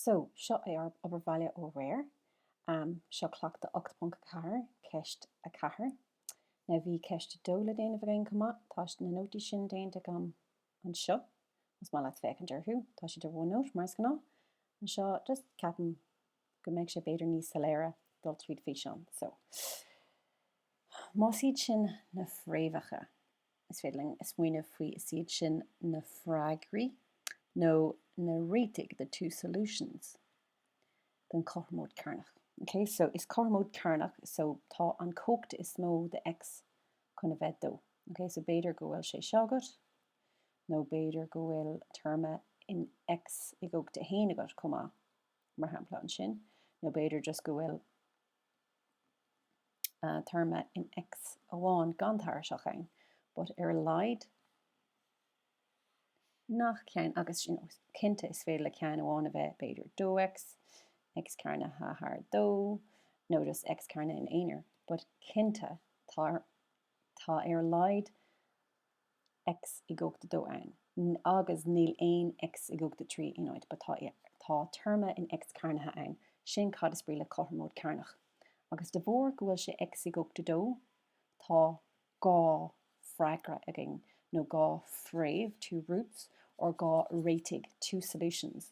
So, seo é ár obair bhaile ó aréir. Seo cleachtadh 8.4, ceist 4. Now bhí ceist 2 le déanamh againn chomh maith. Tá na nótaí sin déanta agam anseo, más maith leat féachaint orthu. Tá siad ar OneNote, mar is gnáth. Anseo, just ceapaim go mbeidh sé b'fhéidir níos soiléire dul tríd físeán. So, más iad sin na fréamhacha. Is féidir linn smaoineamh faoi 'Is iad sin na freagraí' nó na 'réitigh' 'the two solutions' don cothromóid cearnach. Ok, so is cothromóid cearnach, so tá an cumhacht is mó de X chun a bheith 2. Ok, so b'fhéidir go bhfuil sé seo agat, nó b'fhéidir go bhfuil téarma in X i gcumhacht 1 agat chomh maith, mar shampla ansin, nó b'fhéidir just go bhfuil téarma in X amháin gan tairiseach ann, but ar a laghad nach ceann agus cinnte is féidir le ceann amháin a bheith, b'fhéidir 2X, X cearnaithe thar 2, nó just X cearnaithe in aonair, but cinnte tá ar a laghad X i gcumhacht 2 ann, agus níl aon X i gcumhacht 3 in áit but tá, tá téarma in X cearnaithe ann, sin cad is brí le cothromóid cearnach. Agus de bharr go bhfuil sé X i gcumhacht 2, tá dhá freagra againn, nó dhá fréamh, two roots, or dhá réitigh, two solutions.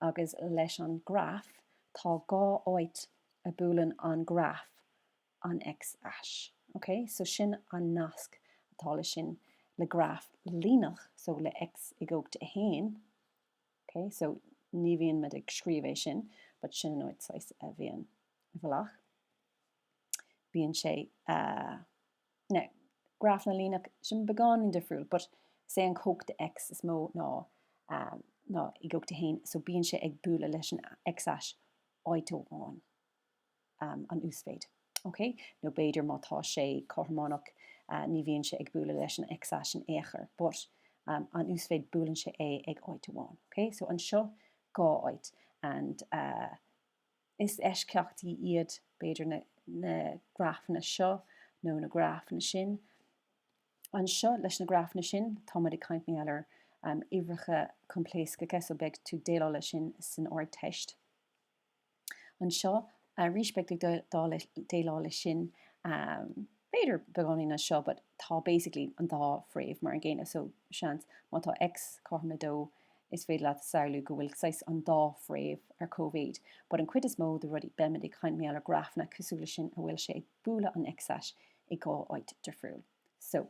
Agus leis an graf, tá dhá áit a buaileann an graf an X ais. Ok, so sin an nasc atá le sin le graf líneach, so le X i gcumhacht 1. Ok, so ní bhíonn muid ag scríobh é sin, but sin an áit saghas a bhíonn i bhfolach. Bíonn sé, now, grafanna líneach, sin beagáinín difriúil, but sé an cumhacht X is mó ná i gcumhacht 1, so bíonn sé ag bualadh leis an X ais áit amháin. an uasmhéid. Ok. Nó b'fhéidir má tá sé cothrománach ní bhíonn sé ag bualadh leis an X ais in aon chor. But an uasmhéid buaileann sé é ag áit amháin. Ok. So anseo dhá áit and is eisceachtaí iad b'fhéidir na grafanna seo nó na grafanna sin. Anseo leis na grafanna sin tá muid ag caint mar gheall ar uimhreacha coimpléascacha so beidh tú ag déileáil leis sin san Ardteist. anseo arís beidh tú ag déileáil leis sin b'fhéidir beagáinín anseo but tá basically an dá fréamh mar an gcéanna so seans má tá X cothrom le 2 is féidir leat samhlú go bhfuil saghas an dá fréamh ar cóimhéid but an cuid is mó de rudaí beimid ag caint mar gheall ar grafanna cosúil leis sin a bhfuil sé ag bualadh an x-ais i dhá áit difriúil so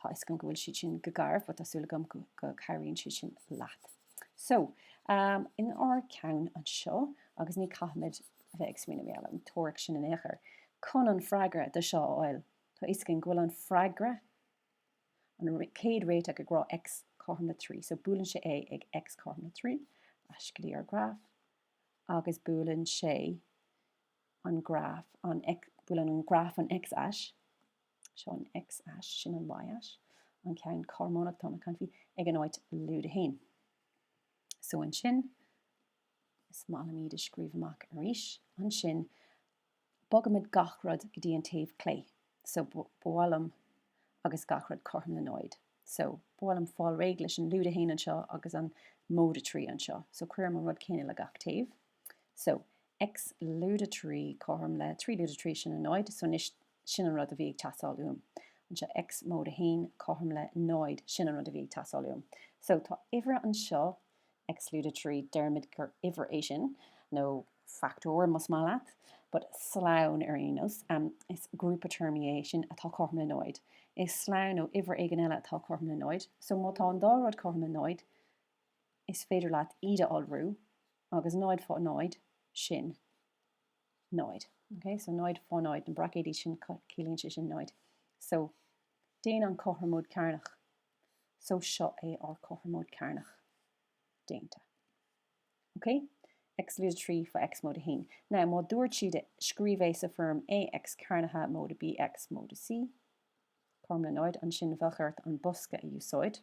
Tá fhios agam go bhfuil siad sin go garbh but tá súil agam go cabhraíonn siad sin leat. So, in ár gceann anseo, agus ní caithfimid bheith ag smaoineamh ar an teoiric sin in aon chor, chun an freagra de seo a fháil, tá fhios againn go bhfuil an freagra, an chéad réiteach ag rá X cothrom le trí, so buaileann sé é ag X cothrom le trí, ais go dtí ár graf, agus buaileann sé an graf, buaileann an graf an X-ais, Seo an x-ais, sin an y-ais, an ceann cothrománach atá mé ag caint faoi, ag an áit lúide a haon. So ansin, is maith liom iad a scríobh amach arís, ansin bogaimid gach rud go dtí an taobh clé. So ba mhaith liom, agus gach rud cothrom le náid. So, ba mhaith liom fáil réidh leis an lúide 1 anseo agus an móide 3 anseo. So cuirim an rud céanna le gach taobh. So, X lúide 3 cothrom le 3 lúide 3, sin 0. So, anois, sin an rud a bhí ag teastáil uaim. Anseo, X móide 1 cothrom le 0, sin an rud a bhí ag teastáil uaim. So, tá uimhir anseo, X lúide 3, deirimid gur uimhir é sin, nó fachtóir más maith leat, but slonn ar aon nós. Is grúpa téarmaí é sin atá cothrom le 0. Is slonn nó uimhir éigin eile atá cothrom le 0. So, má tá an dá rud cothrom le 0, is féidir leat iad a iolrú agus 0 fá 0 sin 0 ok so 0 fá 0 na braicéidí sin ciallaíonn sé sin 0 so déan an cothromóid cearnach so seo é ár cothromóid cearnach déanta ok x lúide 3 fá x móide 1 now má dúirt siad scríobh é sa foirm a x cearnaithe móide bx móide c cothrom le 0 ansin bheadh ort an bosca a úsáid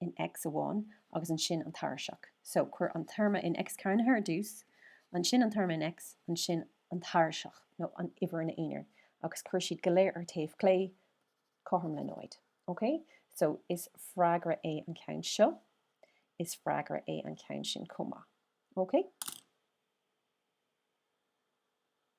in X amháin agus ansin an tairiseach. So, cuir an téarma in X cearnaithe ar dtús, ansin an téarma in X, ansin an tairiseach nó an uimhir ina aonar, agus cuir iad go léir ar taobh clé, cothrom le 0. OK? So, is freagra é an ceann seo, is freagra é an ceann sin chomh maith. OK?